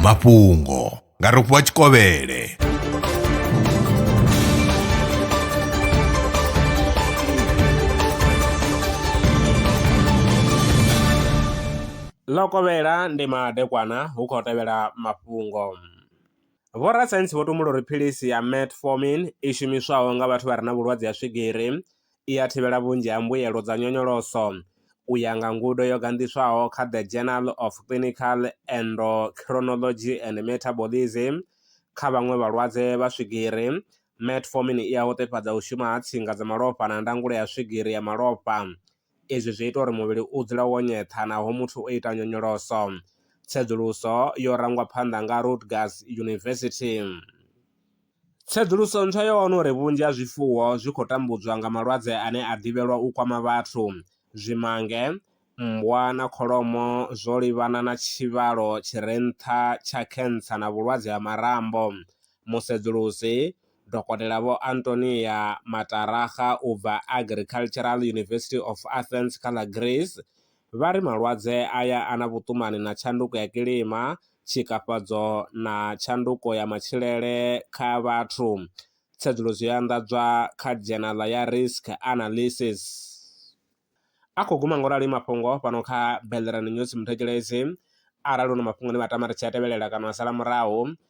mafhungo nga rofhiwa tshikovhele ḽo kovhela ndi madekwana hu khou tevhela mafhungo vhorasaintsi vho tumbula uri philisi ya metformin i shumiswaho nga vhathu vha re na vhulwadze ha swigiri i a thivhela vhunzhi ha mbuelo dza nyonyoloso, u ya nga ngudo yo ganḓiswaho kha The Journal of Clinical Endocrinology and Metabolism. Kha vhaṅwe vhalwadze vha swigiri, metformin i a hoṱefhadza u shuma ha tsinga dza malofha na ndangulo ya swigiri ya malofha. Izwi zwi ita uri muvhili u dzule wo nyeṱha naho muthu o ita nyonyoloso. Tsedzuluso yo rangwa phanḓa nga Rutgers University. Tsedzuluso ntswa yo wana uri vhunzhi ha zwifuwo zwi khou tambudzwa nga malwadze ane a ḓivhelwa u kwama vhathu. Zwimange, mmbwa na kholomo zwo livhana na tshivhalo tshi re nṱha tsha khentsa na vhulwadze ha marambo. Musedzulusi, Dokotela Vho Antonia Mataraga u bva Agricultural University of Athens kha ḽa Greece, vha ri malwadze aya a na vhuṱumani na tshanduko ya kilima, tshikafhadzo na tshanduko ya matshilele kha vhathu. Tsedzuluso yo anḓadzwa kha dzhenala ya Risk Analysis. A khou guma nga u rali mafhungo fhano kha Bellerine News Muthetshelesi. Arali hu na mafhungo ane vha tama ri tshi a tevhelela kana wa sala murahu,